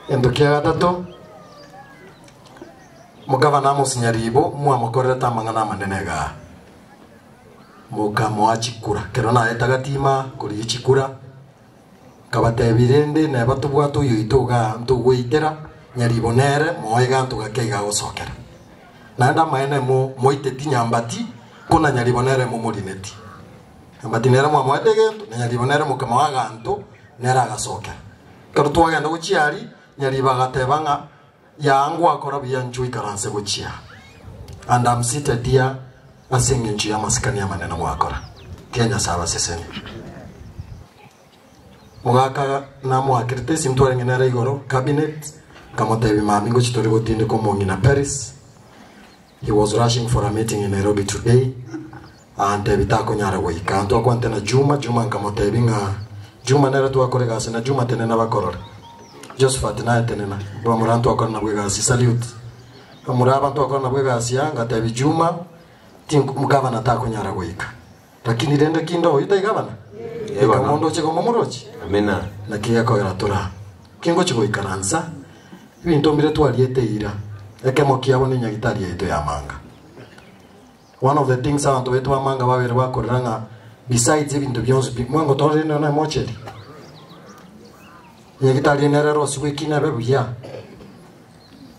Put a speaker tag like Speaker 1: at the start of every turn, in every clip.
Speaker 1: Gento kia gatato, mokabana amosinye riibo, mwamokorerete amang'ana amanene iga aa. Mokamoa chikura, ekero naete agatiima korigia chikura, akabateebia, Rende neba tobwate oyoito iga aa ntogweitera, nyariibo nere, moa eganto gake iga agosokera. Naende amaene mo, moiteti nyambati, ko na nyariibo nere momorineti. Nyambati nere mwamoete egento, na nyariibo nere mokamoa aganto. Nere agasoka. Ekero twagenda gochia aria, nyariba agateba ng'a, Yaa ngwakora buya inchuo ikaranse gochia and am seated here ase engencho y'amasikani amanene gwakora. Tia Nyasae abaseseni. Mogaka namoakerete esimi twarenge nere igoro, cabinet, nkamotebia, Mami, ngochi tori gotindeka omong'ina Paris. He was rushing for a meeting in Nairobi today aantebie takonyara goika. Ntwakwanete na Juma, Juma nkamotebia ng'a Juma nere twakora egasi na Juma tenena bakorore. Josephat naye tenena bamura ntwakora nabo egasi. Salute. Bamura aba ntwakora nabo egasi aa ngatebia Juma tink mgavana takonyara goika. Lakini rende kinde oyo taigabana, eka omonto oche koma omorochi. Amina. Naki
Speaker 2: gekogera
Speaker 1: tore aa? Tingochi goikaransa ebinto mbire twariete ira. Ekemo kiabo nenyagitari yaito y'amanga. One of the things abanto baito b'amanga babere bakorera ng'a besides ebinto bionsi bi mwango tororire nonya na emocheri, enyagitari eye nere erosirwe ekina ebe buya.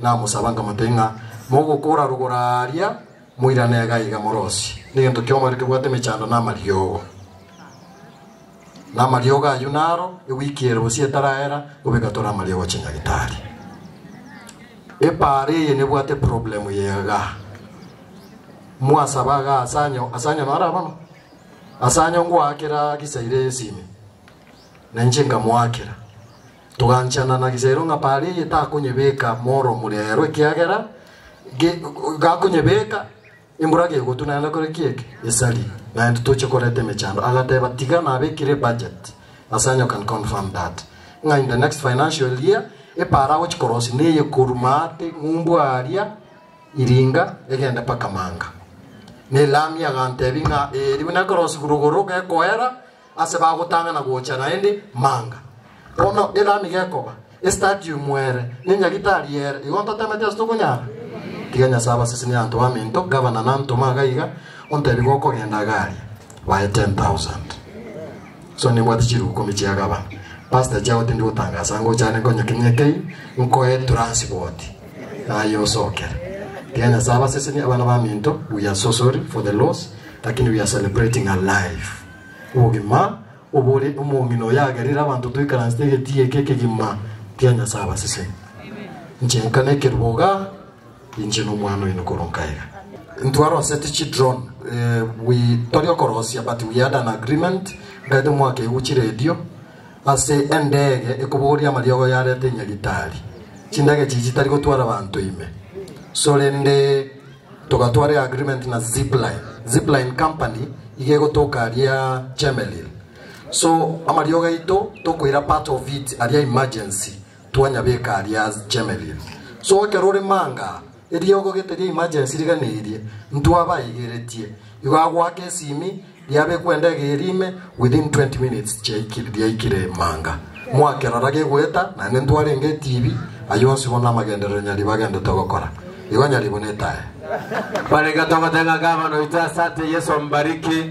Speaker 1: Namosaba nkamotebia ng'a, Mogokora rogoro aaria, moirane egaiga morosie, negento kiaomoerio kebwate emechando na amariogo. Na amariogo ayio naro ewiki ere bosio etaraera, nigo begatwara amariogo chinyagetari. Epaara eye nebwate eproblem ye iga. Mwasaba iga ase anyo, ase anyo naro abana? Ase anyo ngoakera gisaire esime. Na inche nkamoakera. Toganchana na Gisero ng'a Baali eye takonyebeka moromu reero ekiagera ge, gakonyebeka embura gegotuna naende kore ki eke esari naye totoche koreta emechando agateba tiga nabekire budget ase anyo can confirm that ng'a in the next financial year epaara agochi korosi neye koru maate ng'umbu aaria iringa egende paka manga ne lami agantebi ng'a ee ribu nekorosi rogoro gekoera ase bagotang'ana gocha naende manga. Bono era nigekoba estadium ere ne nyaritari ere, igo ntotemeti ase tokonyara? Tiga Nyasae abasesenie abanto baminto, gavana nantoma iga iga, ontebie gokogenda agaria, baye 10,000. So nimbwate chiru ikomi chia gavana. Pastor chao tindi gotangasa ngocha are nkonye kinya kei, nkoe transport aye osokere. Tiga Nyasae abasesenie abana baminto, we are so sorry for the loss, lakini we are celebrating alive. Obogima obore nomomino oyagerire abanto toikaransete egetii eke ekegima kia Nyasae abasese. Inche nka nekeruba oga, inche nomwana oino koro nkaega. Ntwaroseti chidron eh, we tori okorosia but we had an agreement nkaete omwaka egu chiredio ase endege ekobogoria amariogo yarete Nyagitari chindege chichi chitari gotwara abanto ime sorende Togatwara eagreement na Zipline, Zipline company iga egotoka aria Chemelil. So amariogo aito tokoira part of it aria emergency twanyabeka aria Chemelil. So ekero ore manga eriogo gete ria emergency rigana erie ntwabaigeretie igo agoaka esimi Yabekwa endege eria ime within twenty minutes yaikire manga. Mwakerora gegoeta naende ntwarenge etibi ayio onsi bono amagenderero nyari bagendete gokora. Igo nyaribo
Speaker 2: netae. Barenge togoteng'aka abana oito asante
Speaker 1: Yesu
Speaker 2: ombariki.